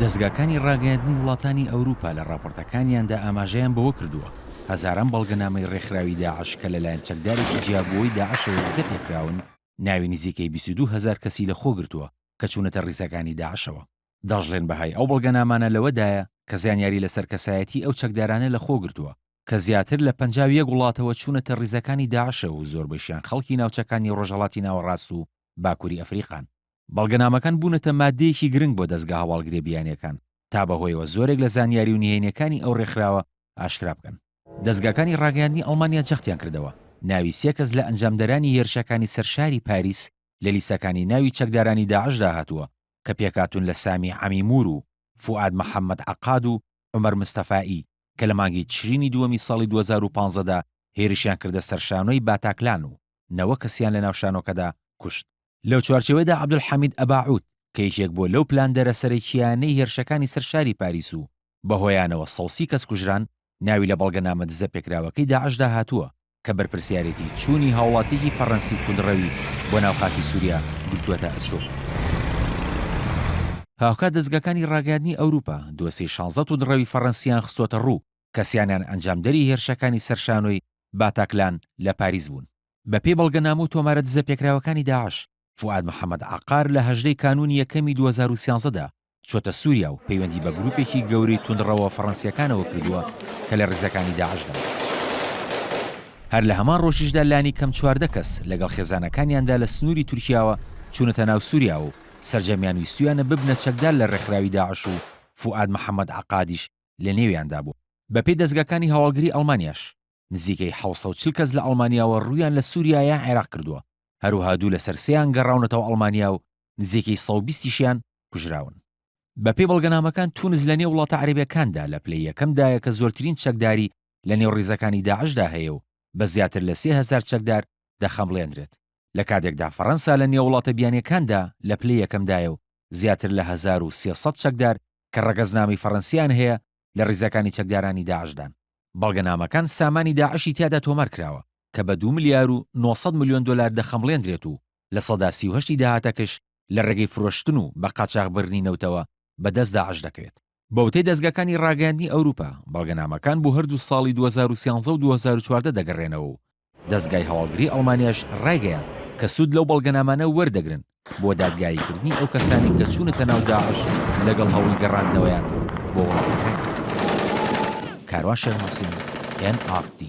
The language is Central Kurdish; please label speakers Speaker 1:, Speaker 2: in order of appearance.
Speaker 1: دەزگاکانی ڕاگەیاندنی وڵاتانی ئەوروپا لە ڕاپۆرتەکانیاندا ئاماژەیان بەوە کردووە، هەزاران بەڵگەنامەی ڕێکخراوی داعش کە لەلایەن چەکدارێکی جیابووەوەی داعشەوە دزەپێکراون، ناوی نزیکەی بیست و دوو هەزار کەسی لەخۆگرتووە کە چوونەتە ڕیزەکانی داعشەوە. دەشڵێن بەهای ئەو بەڵگەنامانە لەوەدایە کە زانیاری لەسەر کەسایەتیی ئەو چەکدارانە لەخۆگرتووە کە زیاتر لە پەنجا و یەک وڵاتەوە چوونەتە ڕیزەکانی داعشەوە و زۆربەیشیان خەڵکی ناوچەکانی ڕۆژهەڵاتی ناوەڕاست و باکوری ئەفریقان. بەڵگەنامەکان بوونەتە ماددەیەکی گرنگ بۆ دەزگا هەواڵگرییە بیانییەکان تا بەهۆیەوە زۆرێک لە زانیاری و نهێنییەکانی ئەو رێکخراوە ئاشکرا بکەن. دەزگاکانی راگەیاندنی ئەڵمانیا جەختیان کردەوە، ناوی سێ کەس لە ئەنجامدەرانی هێرشەکانی سەر شاری پاریس لە لیستەکانی ناوی چەکدارانی داعشدا هاتووە کە پێکهاتوون لە سامی عەمیمور و فوئاد محەممەد عەقاد و عومەر مستەفائی کە لە مانگی تشرینی دووەمی ساڵی دوو هەزار و پازدە دا هێرشیان کردە سەر شانۆی باتاکلان و نەوە کەسیان لە ناو شانۆکەدا کوشت. لەو چوارچێوەیدا عەبدولحەمید ئەباعود کە یەکێک بووە لەو پلاندەرە سەرەکییانەی هێرشەکانی سەر شاری پاریس و بە هۆیانەوە سەو سی کەس کوژران، ناوی لە بەڵگەنامە دزە پێکراوەکەی داعشدا هاتووە کە بەرپرسیارێتی چوونی هاوڵاتییەکی فەڕەنسی توندڕەوی بۆ ناو خاکی سووریا گرتووەتە ئەستۆ. هاوکات دەزگاکانی ڕاگەیاندنی ئەوروپا دۆسێی شانزە توندڕەوی فەڕەنسییان خستووەتە ڕوو کەسیانیان ئەنجامدەری هێرشەکانی سەر شانۆی باتاکلان لە پاریس بوون. بەپێی بەڵگەنامە و تۆمارە دزەپێکراوەکانی داعش، فوئاد محەمەد عەقار لە هەژدە ی کانوونی یەکەمی دوو هەزار و سیانزە دا چووەتە سووریا و پەیوەندی بە گرووپێکی گەورەی توندڕەوە فەڕەنسییەکانەوە کردووە کە لە ڕیزەکانی داعشدان. هەر لە هەمان ڕۆژیشدا لانیکەم چواردە کەس لەگەڵ خێزانەکانیاندا لە سنووری تورکیاوە چوونەتە ناو سووریاوە و سەرجەمیان ویستوویانە ببنە چەکدار لە ڕێکخراوی داعش و فوئاد محەمەد عەقادیش لە نێویاندا بوو. بە پێی دەزگاکانی هەواڵگری ئەڵمانیاش، نزیکەی حەوت سەد و چل کەس لە ئەڵمانیاوە روویان لە سووریا یا عێراق کردووە، هەروەها دوو لەسەر سێیان گەڕاونەتەوە ئەڵمانیا و نزیکەی سەد و بیست یشیان کوژراون. بە پێی بەڵگەنامەکان، تونس لە نێو وڵاتە عەرەبیەکاندا لە پلەی یەکەم دایە کە زۆرترین چەکداری لە نێو ریزەکانی داعشدا هەیە و بە زیاتر لە سێ هەزار چەکدار دەخەمڵێندرێت، لە کاتێکدا فەرەنسا لە نێو وڵاتە بیانیەکاندا لە پلەی یەکەم دایە و زیاتر لە هەزار و سێ سەد چەکدار کە ڕەگەزنامەی فەڕەنسییان هەیە لە ڕیزەکانی چەکدارانی داعشدان. بەڵگەنامەکان سامانی داعشی تیادا تۆمار کراوە کە بە دوو ملیار و نۆ سەد ملیۆن دۆلار دەخەمڵێندرێت و لە سەدا سی و هەشتی داهاتەکش لە ڕێگەی فرۆشتن و بە قاچاغبرنی نەوتەوە بە دەست داعش دەکرێت. بە وتەی دەزگاکانی ڕاگەیاندنی ئەوروپا، بەڵگەنامەکان بۆ هەردوو ساڵی دوو هەزار و سیانزە و دوو هەزار و چواردە دەگەڕێنەوە و دەزگای هەواڵگری ئەڵمانیاش ڕایگەیاند کە سوود لەو بەڵگەنامانە وەردەگرن بۆ دادگاییکردنی ئەو کەسانەی کە چوونەتە ناو داعش لەگەڵ هەوڵی گەڕاندنەوەیان بۆ وڵاتەکانیان. کاروان شێخ موحسین، ئێن ئاڕ تی.